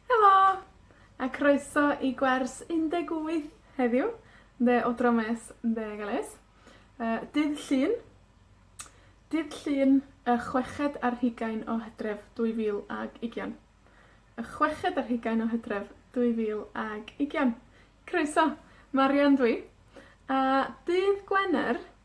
Helo! A croeso i gwers un deg wyth heddiw, ynde, o dro Mes ynde a Gwres. Yy, dydd Llun. Dydd Llun, y chweched ar hugain o Hydref, dwy fil ag ugian. Y chweched ar hugain o Hydref, dwy fil ag ugian. Croeso. Marian dw i, a dydd Gwener,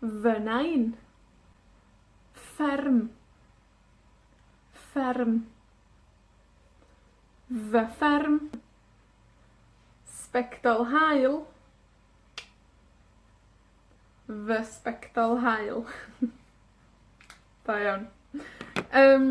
Fy nain. Fferm. Fferm. Fy fferm. Sbectol haul. Fy sbectol haul. Da iawn. Yym.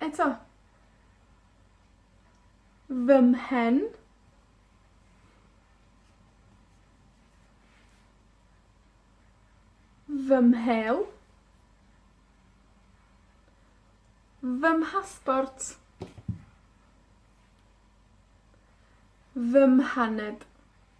Eto. Fy mhen. Fy mhêl. Fy mhasbort. Fy mhaned.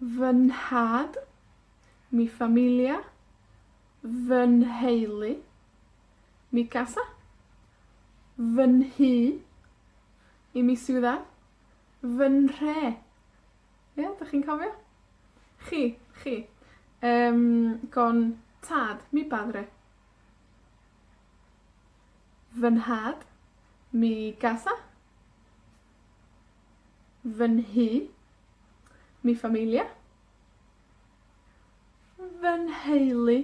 Fy nhad. Mi familia. Fy nheulu. Mi casa. Fy nhŷ. I mi ciudad. Fy nhre. Ie? 'dych chi'n cofio? Chi, chi. Yym, con tad. Mi padre. Fy nhad. Mi casa. Fy nhŷ. Mi familia. Fy nheulu.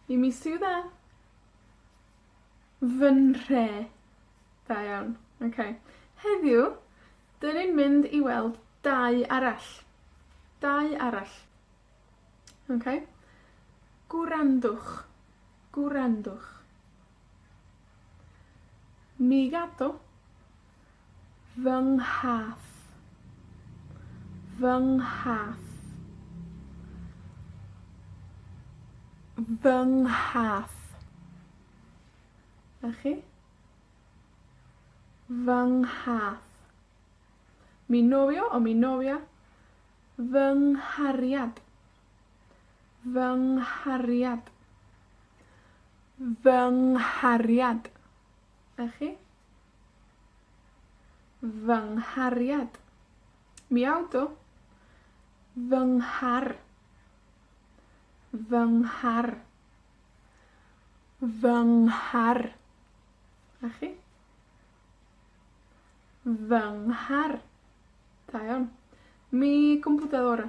I mi ciudad. Fy nhre. Da iawn. Oce. Heddiw, 'dyn ni'n mynd i weld dau arall. Dau arall. Oce? Gwrandwch. Gwrandwch. Mi gadw fy nghath. Fy nghath. Fy nghath. 'Na chi. Fy nghath. Mi nofio o mi nofia fy nghariad. Fy nghariad. Fy nghariad. A chi? Fy nghariad. Miaww, do. Fy nghar. Fy nghar. Fy nghar. A chi? Fy nghar. Da iawn. Mi gwmpwda ora.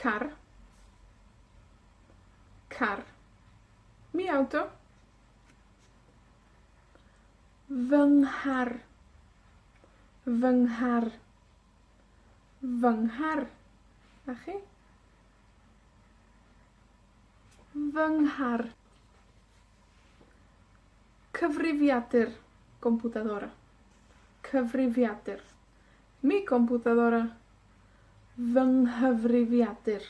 Car. Car. Mi aw dw. Fy nghar. Fy nghar. Fy nghar. A chi? Fy nghar. Cyfrifiadur, computadora. Cyfrifiadur. Mi gomputadora. Fy nghyfrifiadur.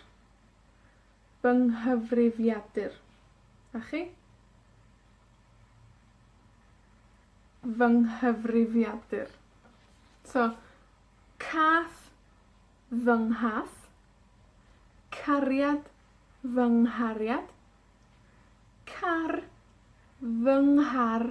Fy nghyfrifiadur. A chi? Fy nghyfrifiadur. So, cath fy nghath. Cariad fy nghariad. Car fy nghar.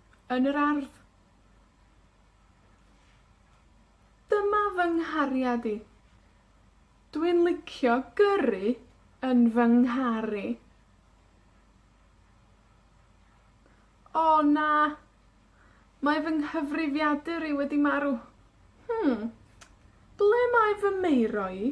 yn yr ardd. Dyma fy nghariad i. Dwi'n licio gyrru yn fy nghar i. O, na! Mae fy nghyfrifiadur i wedi marw. Hmm, ble mae fy Meiro i?